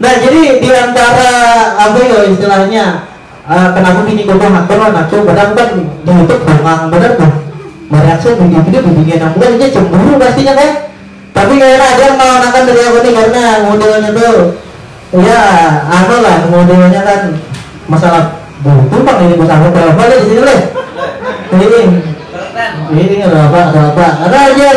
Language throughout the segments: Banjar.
Nah jadi diantara apa yo istilahnya kenapa bini gue bangat banget nah tuh padahal kan di YouTube bongang bener tuh mereaksi video video bibinian yang bukan aja cemburu pastinya kan tapi kayaknya ada yang melawan dari aku nih karena modelnya tuh ya anu lah modelnya kan masalah buku bang ini bukan apa apa di sini leh ini ini apa apa karena ajar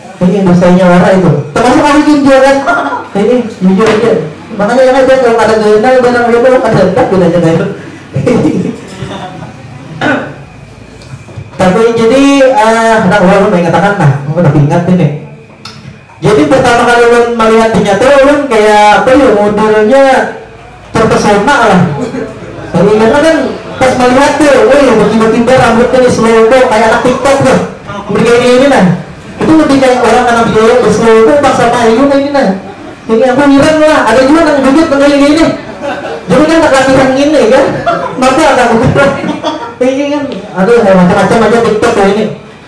Ini dosanya wara itu. Termasuk hari ini dia kan. Ini jujur aja. Makanya yang aja kalau ada gaya nang barang dia kalau ada tak bila aja gaya. Tapi jadi uh, nah ulun mengatakan nah, udah ingat ini. Jadi pertama kali ulun melihat dinya tuh ulun kayak apa ya modelnya terpesona lah Pengilangnya kan pas melihat tuh, wih bertiba-tiba rambutnya nih slowbo kayak anak tiktok tuh mereka ini ini nah itu lebih kayak orang anak biaya berslowbo pas sama Ayu nah ini nah ini aku ngiran lah ada juga yang duduk dengan ini ini jadi kan tak latihan ini kan maka ada aku ini kan aduh macam-macam aja tiktok tuh ini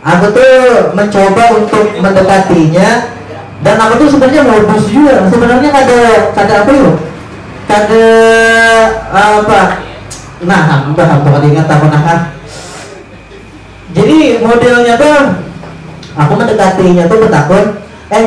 Aku tuh mencoba untuk mendekatinya dan aku tuh sebenarnya modus juga. Sebenarnya kada kada apa yuk, kada apa. Nah, aku udah aku kada ingat aku nah kan. Jadi modelnya tuh aku mendekatinya tuh betakun, eh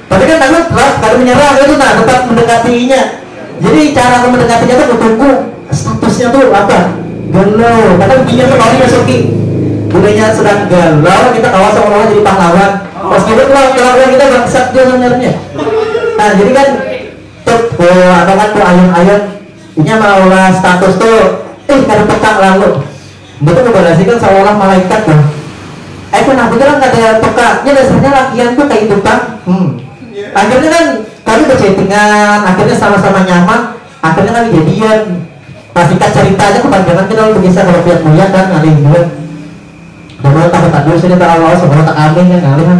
Tapi kan takut lah, kada menyerah itu nah, tetap mendekati inya. Jadi cara aku mendekati itu aku tunggu statusnya tuh apa? Galau. Kadang dia tuh kalau masuki. Budaya sedang galau, kita kawa seolah-olah jadi pahlawan. Meskipun kalau kelakuan kita bangsat dia sebenarnya. Nah, jadi kan tuh, oh, atau kan tuh ayun-ayun, inya maulah status tuh, eh kada peka lalu Mbah tu babarasi kan saolah-olah malaikat bah. Eh kanapa tu nang kada peka, nya dasarnya lakian tu kaitu pang. Hum. Akhirnya kan kami bachattingan, akhirnya sama-sama nyaman, akhirnya kami jadian. Nah singkat carita aja kapanjangan kita lalu bakisah kawa pian muya kan ngalih jua. Dalam tahu takdir sudah tahu lawas bawa takamih nya ngalih am.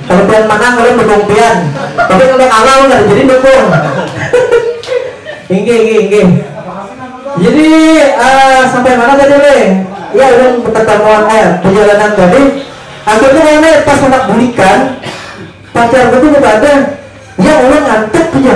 Kelebihan mana kalian dukung pian. Tapi kalau kalah lu kada jadi dukung. inggih inggih inggih. Jadi uh, sampai mana tadi le? Ya udah pertemuan eh perjalanan tadi. Akhirnya mana pas anak bulikan pacar gue tuh ada ya orang ngantuk punya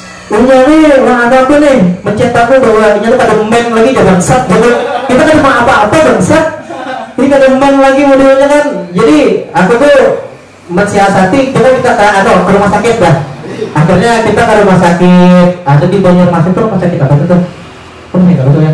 Inya ni nang anu aku nih mencet aku bahwa inya tu kada man lagi jar bangsat jadi kita kada ma apa apa bangsat jadi kada man lagi modelnya kan jadi aku tu mensiasati coba kita ka anu ka rumah sakit dah akhirnya kita ka rumah sakit ada di banjarmasin tu rumah sakit apa itu tuh aku masih ingat batul ya.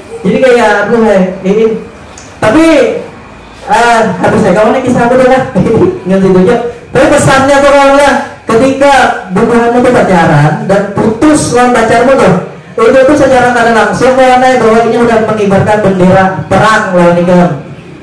Jadi kaya aku kaya ini. Tapi uh, habis ya kamu nih kisah aku dah nggak tunjuk. Tapi pesannya tuh kawan lah, ketika bubuhanmu tuh pacaran dan putus lawan pacarmu tuh, itu tuh secara tidak langsung kawan bahwa ini udah mengibarkan bendera perang lawan ikam.